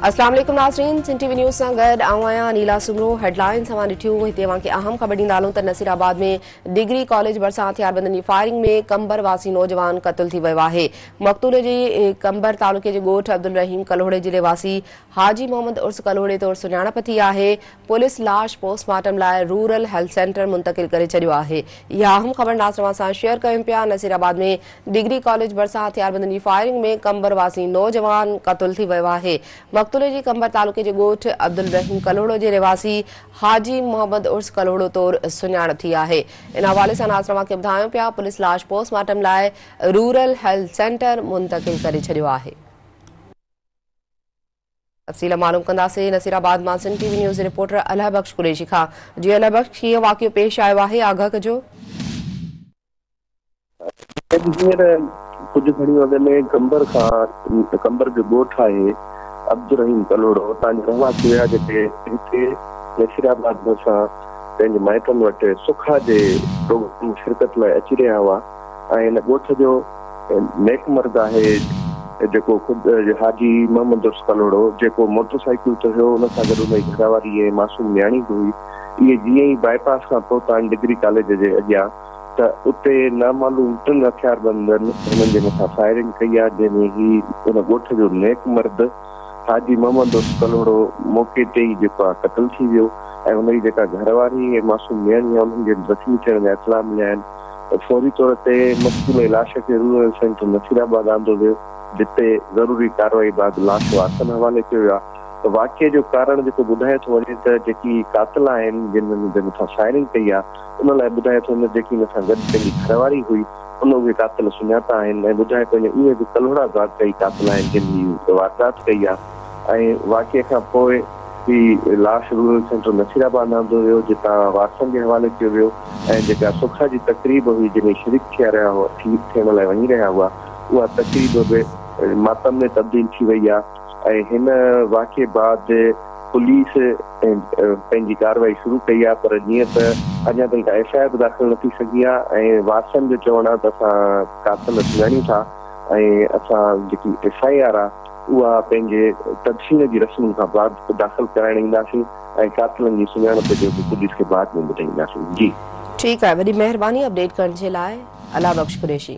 السلام عليڪم ناظرين سنڌ ٽي وي نيوز سان گڏ آئون آهيان نيلا سمرو هيڊلائن سان ڏٺيون هتي اوهان کي اهم خبر ڏيندا هلون ته نصير آباد ۾ ڊگري ڪاليج ڀرسان هٿياربندن جي فائرنگ ۾ ڪمبر واسي نوجوان قتل ٿي ويو آهي مقتول جي ڪمبر تعلقي جي ڳوٺ عبدالرحيم ڪلهوڙي ضلعي واسي حاجي محمد عرس ڪلهوڙي طور سڃاڻپ ٿي آهي، پوليس لاش پوسٽ مارٽم لاء رورل هيلٿ سينٽر منتقل ڪري ڇڏيو آهي. اها اهم خبر ناز توهان سان شيئر ڪيون پيا، نصير آباد ۾ ڊگري ڪاليج ڀرسان هٿياربندن جي فائرنگ ۾ قمبر واسي نوجوان قتل ٿي ويو آهي، مقتول جي قمبر تعلقي جي ڳوٺ عبدالرحيم ڪلهوڙو جي رهواسي حاجي محمد عرس ڪلهوڙو طور سڃاڻپ ٿي آهي، ان حوالي سان ناز توهان کي ٻڌايون پيا، پوليس لاش پوسٽ مارٽم لاء رورل هيلٿ سينٽر منتقل ڪري ڇڏيو آهي. تفصيل معلوم ڪنداسين نصير آباد مان سنڌ ٽي وي نيوز جي رپورٽر الهه بخش قريشي کان جي الهه بخش ڪيئن واقعو پيش آيو آهي آگاهه ڪجو هينئر ڪجهه گهڙيون اڳ ۾ قمبر کان قمبر جو ڳوٺ آهي عبدالرحيم ڪلهوڙو اتان جا رهواسي هيا جيڪي هتي نصير آباد ڀرسان پنهنجي مائٽن وٽ سکا جي پروگرام ۾ شرڪت لاء اچي رهيا هئا ۽ هن ڳوٺ جو نيڪ مرد آهي جيڪو خود حاجي محمد عرف ڪلهوڙو جيڪو موٽر سائيڪل تي هيو ان سان گڏ ان جي گهرواري ۽ معصوم نياڻي به هئي اهي جيئن ئي باء پاس کان پهتا آهن ڊگري ڪاليج جي اڳيان ته اتي نامعلوم ٽن هٿياربندن هنن جي مٿان فائرنگ ڪئي آهي جنهن ۾ هي ان ڳوٺ جو نيڪ مرد حاجي محمد عرف ڪلهوڙو موقعي تي ئي جيڪو آهي قتل ٿي ويو ۽ ان جي جيڪا گهرواري ۽ معصوم نياڻي آهي انهن کي زخمي ٿيڻ جا اطلاع مليا آهن. فوري طور تي مقتول لاش کي رورل سينٽر نصير آباد آندو ويو جتي ضروري ڪارروائي بعد لاش وارثن حوالي ڪيو ويو آهي ته واقعي جو ڪارڻ جيڪو ٻڌايو ٿو وڃي ته جيڪي قاتل آهن جن جي مٿان فائرنگ ڪئي آهي ان لاء ٻڌايو ٿو وڃي ته جيڪي ان سان گڏ پنهنجي گهرواري هئي ان اهي قاتل سڃاتا آهن ۽ ٻڌايو ٿو وڃي اهي به ڪلهوڙا ضابطه ئي قاتل آهن جن هي واردات ڪئي آهي. ۽ واقعي کان پوء هي لاش رورل سينٽر نصير آباد آندو ويو جتان وارثن جي حوالي ڪيو ويو ۽ جيڪا سکا جي تقريب هئي جنهن ۾ شريڪ ٿيا رهيا هئا ٿيڻ لاء وڃي رهيا هئا اها تقريب به ماتم ۾ تبديل ٿي وئي آهي ۽ هن واقعي بعد پوليس پنهنجي ڪارروائي شروع ڪئي آهي پر جيئن ته اڃا تائين ڪا ايف آء آر به داخل نه ٿي سگهي آهي ۽ وارثن جو چوڻ آهي ته اسان قاتل سڃاڻيون ٿا ۽ اسان جيڪي ايف آء آر آهي اها پنهنجي تدفين جي رسمن کان بعد داخل ڪرائڻ اينداسين ۽ قاتلن جي سڃاڻپ جو به پوليس کي بعد ۾ ٻڌائينداسين جي. ٺيڪ آهي وڏي مهرباني اپڊيٽ ڪرڻ جي لاء الله بخش قريشي.